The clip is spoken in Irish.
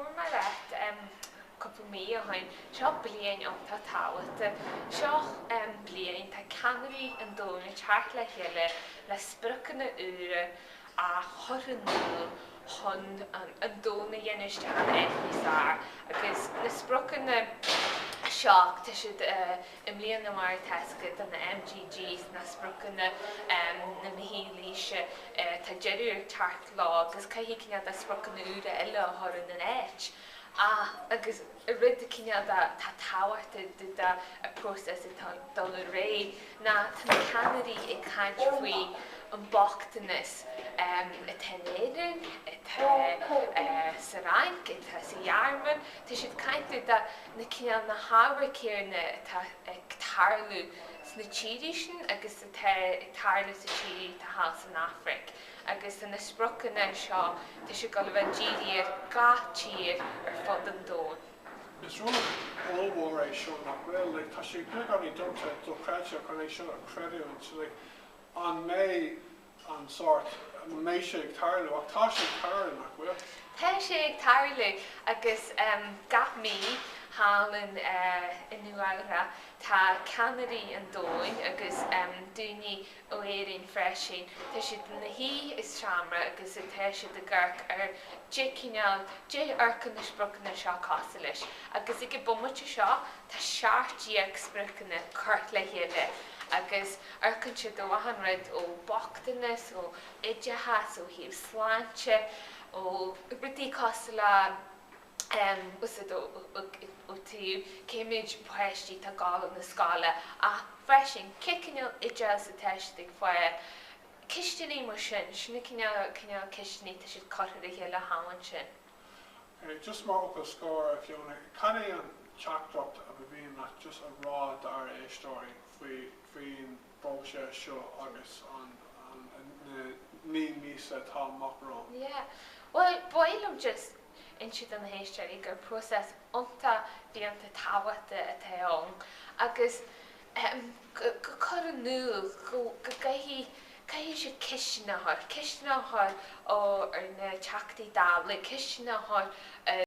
Bhuail mé leat cúpla mí ó shin. Seo bliain iontach tábhachtach. Seo bliain, tá ceannairí an domhain ag teacht le chéile le spriocanna úra a chur in iúl chun an domhan a dhéanamh isteach in áit níos fearr. Agus na spriocanna seo, tá siad. I mbliana, mar atá a fhios ag cuid de na MDGs, na Spriocanna um na Mílaoise, tá deireadh ag teacht leo agus caithfidh cineál de spriocanna úra eile a chur ina n-áit. Ach, agus rud de cineál de, atá tábhachtach de dó an process go dtí an ré, ná tá na ceannairí ag caint faoi an bochtanas atá in Éirinn, atá sa Fhrainc, atá sa Ghearmáin, tá siad ag caint de do, na cineál na hábhair céanna atá ag tarlú sna tíortha sin agus atá ag tarlú sna tíortha thall san Afraic agus tá na spriocanna seo, tá siad ag gabháil a bheith dírithe ar gach tír ar fud an domhain. Is rud ollmhór é seo nach bhfuil, like, tá sé beagáinín domsa, dochreidte chun é seo a chreidiúint, like, an mbeidh, an sórt a mbeidh sé ag tarlú, ach tá sé ag tarlú, nach bhfuil? Tá sé ag tarlú agus gach mí thall i Nua-Eabhrac tá ceannairí an domhain agus daoine ó Éirinn freisin, tá siad ina suí i seomra agus tá siad ag amharc ar cad é cineál, cad é a amharcann na spriocanna seo cosúil leis agus ag an bhomaite seo Tá seacht déag spriocanna curtha le chéile agus amharcann siad ó achan rud ó bhochtanas, ó oideachas, ó thaobh sláinte, ó rudaí cosúil le, ó thaobh cé méid páistí atá ag gabháil chun na scoile ach freisin cé cineál oideachas atá siad ag fáil, ceisteanna mar sin, sin na cineál cineál ceisteanna atá siad curtha le chéile cheana ansin. Just mar fhocal scor, a Fiona, cad é an teachtaireacht a ba mhian leat just a rá d'ár éisteoirí faoi faoin bpróiseas seo agus an na naoi míosa atá amach romhainn? Yeah. Bhuel, ba mhaith liom just insint do na héisteoirí gur próiseas iontach fiúntach tábhachtach atá ann agus a chur in iúl go gcaithfidh caithfidh siad ceisteanna a chur, ceisteanna a chur ar na Teachtaí Dála, ceisteanna a chur ar.